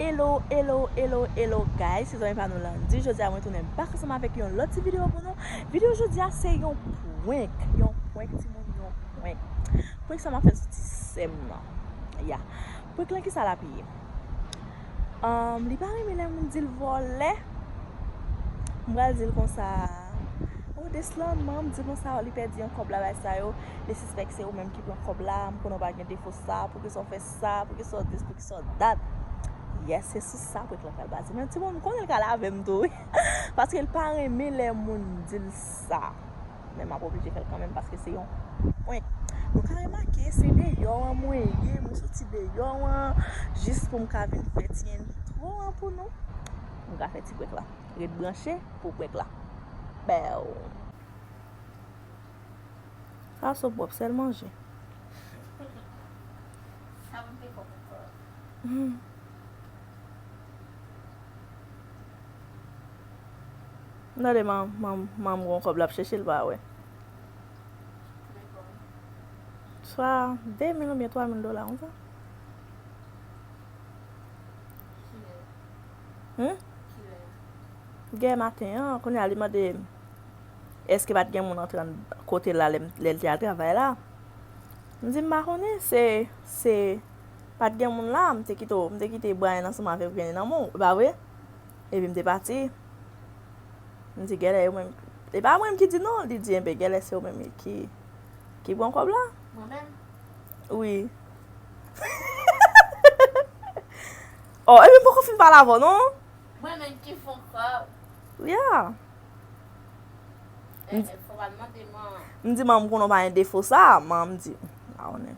Hello hello hello hello guys se zanmi pa nou Landy jodi a mwen tounen bak ansanm avèk yon lòt ti video pou nou video jodi a se yon prank yon prank ti moun yon prank prank sa mwen fè sou ti sèm nan ya prank lan kisa lap ye Li pa renmen lè moun di l vòlè. M pral di l konsa, O Deslam, man, m di konsa a, li pèdi yon kòb la bay sa yo, li sispèk se ou menm ki pran kòb la, m konnen w pa gen defo sa, poukisa w fè sa, poukisa w dis, poukisa w dat. Yes, se sou sa prank lan pral baze. Men ti moun, m konnen l ka lave m tou wi. Paske l pa renmen lè moun di l sa. Men m ap oblije fè l kanmenm paske se yon prank. Nou ka remake se deyò an mwen ye, mwen soti deyò an jis pou m ka vin fè ti entwo an pou nou. Nou ka fè ti prank la. Ret branche pou prank la. Baww. Sa sou pwòp, sèl manje. Sa mwen te pwòp ankò. M tande manman m gon kòb lap chèche l pa wè. Swa 2 mil oubyen 3 mil dola konsa. Kilè? Yè maten an, kounye a li mande èske pat gen moun antre kote l la lè l te al travay la. M di m pa konnen, se pat gen moun la, m te kite Brian ansanm avèk Vianney nan men w, e pa vre? Epi m te pati. M di gèlè yo menm. E pa mwen m ki di non, li di enben gèlè se yo menm ki ki pran kòb la. Mwen menm? Wi. Oh, epi m poko fin pale avè w non. Mwen menm ki fon kòb. Yeah. E, e fò pa mande man. M di man m konnen w pa gen defo sa, man m di, m pa konnen.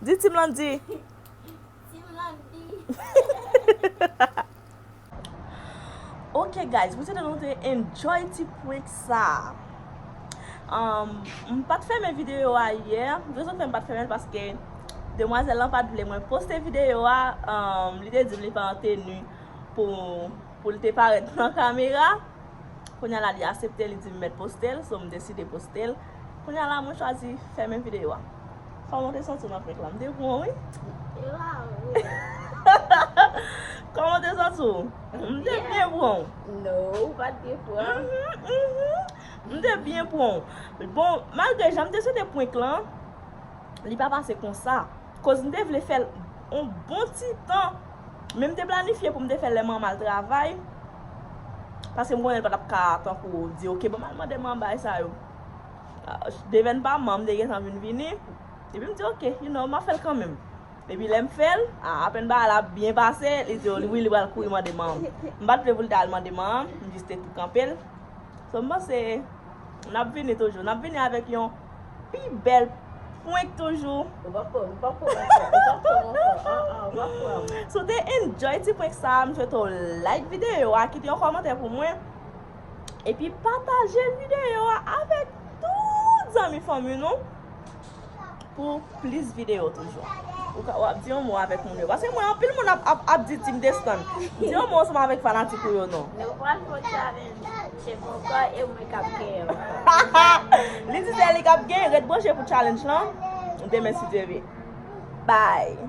Di Team Landy. Team Landy. Ok guys, mwen swete nou te enjoy ti prank sa. M pat fèmen video a yè. Rezon ki fè m pat fèmen l paske demwazèl lan pat vle mwen poste video a. Li te di m li pa an teni pou l te parèt nan kamera. Kounya la li asepte li dim mèt postel so m deside postel Kounya la mwen chwazi fèmen video a Kòman w te santi w nan prank la m te bon wi Kòman w te santi w m te byen bon M te byen bon Bon malgre jan m te swete prank lan li pa pase konsa koz m te vle fèl on bon ti tan Men m te planifye pou m te fè lè manman al travay, paske m konnen l pa t ap ka tankou di ok banm al mande manman bagay sa yo. Devèn pa manman m te gentan vin vini, epi m di ok, you know, m ap fè l kanmenm. Epi lè m fè l, a apèn bagay la byen pase, li di wi li pral kouri mande manman m. M pa t vle pou l ta al mande manman m, m jis te tou kanpe l. So m panse N ap vini toujou. N ap vini avèk yon pi bèl prank toujou. Ou pa pranm, ou pa pranm ankò, ou pa pranm ankò, an an, ou pa pranm. Si w te enjoy ti prank sa a, m swete w like videyo a, kite yon kòmantè pou mwen, epi pataje videyo a avèk tout zanmi fanmi nou. Pou plis videyo toujou. Ou ka wap di yon mo avèk moun yo. Paske mwen anpil moun ap di team destan. Di yon mo ansanm avèk fanatik ou yo non. Nou pral fon challenge. Se mwen ankò e mwen kap genyen ankò. Li di se li kap genyen. Ret branche pou challenge lan. Demen si Dye ve. Bye.